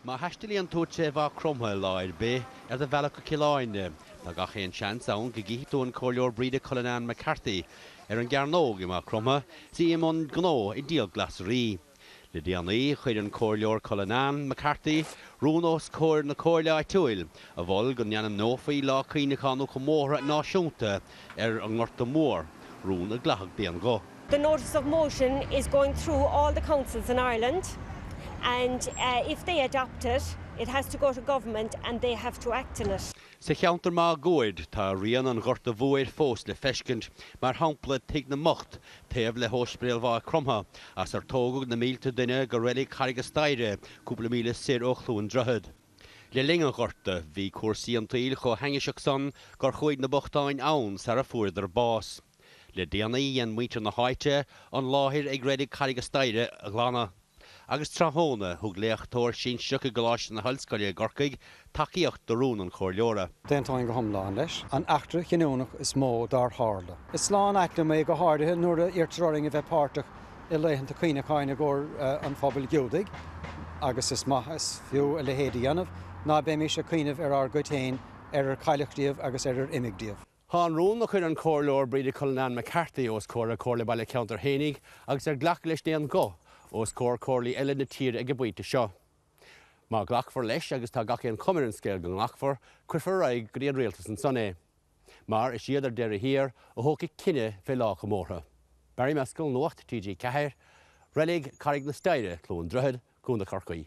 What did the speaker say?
Má thaistealaíonn tú trí Mhaigh Chromtha lá ar bith ar do bhealach go Cill Airne, tá gach aon seans ann go gcífidh tú an Comhairleoir Breda Cullinane McCarthy ar an gcearnóg i Maigh Chromtha, is í i mbun gnó ag díol glasraí. Le déanaí, chuir an Comhairleoir Cullinane McCarthy rún os comhair na Comhairle áitiúil a mhol go n-ainmneofaí lá cuimhneacháin nó comórtha náisiúnta ar an nGorta Mór, rún a glacadh d'aon ghuth. The notice of motion is going through all the councils in Ireland and if they adopt it, it has to go to government and they have to act on it. Sa cheantar máguaird, tá rian an Ghorta Mhóir fós le feiscint, mar shampla Tigh na mBocht, taobh le hOspidéal Mhaigh Chromtha, as ar tógadh na mílte duine go reilig Charraig an Staighre, cúpla míle soir ó Chluain Droichead. Le linn an Ghorta, bhí cúrsaí an tsaoil chomh hainniseach san gur chuaigh na bochtáin ann sara fuaireadar bás. Le déanaí, dhein muintir na háite an láthair ag Reilig Charraig an Staighre a ghlanadh, agus tráthnóna, thug léachtóir sinsearach i gColáiste na hOllscoile i gCorcaigh tacaíocht do rún an Chomhairleora. D'aontóinn go hiomlán leis. An eachtra chinniúnach is mó dár tharla. Is lán-ait liom é, go háirithe nuair a iarrtar orainn a bheith páirteach i laethanta cuimhneacháin i gcomhair an phobail Ghiúdaigh, agus is maith is fiú a leithéid a dhéanamh, ná beimís ag cuimhneamh ar ár gcuid féin, ar ar cailleadh díobh agus ar ar imigh díobh. Tá an rún a chuir an Comhairleoir Breda Cullinane McCarthy os comhair a Comhairle Baile Cheantair fhéinig agus ar glacadh leis d'aon ghuth os comhair Comhairlí eile na tíre ag an bpointe seo. Má ghlacfar leis, agus tá gach aon chuma ar an scéal go nglacfar, cuirfear ar aghaidh go dtí an Rialtas ansan é. Mar is iad, ar deireadh thiar, a thógfaidh cinneadh fé lá an chomórtha. Barry Mescall, Nuacht TG4, Reilig Carraig na Staighre, Cluain Droichead, Co. Chorcaí.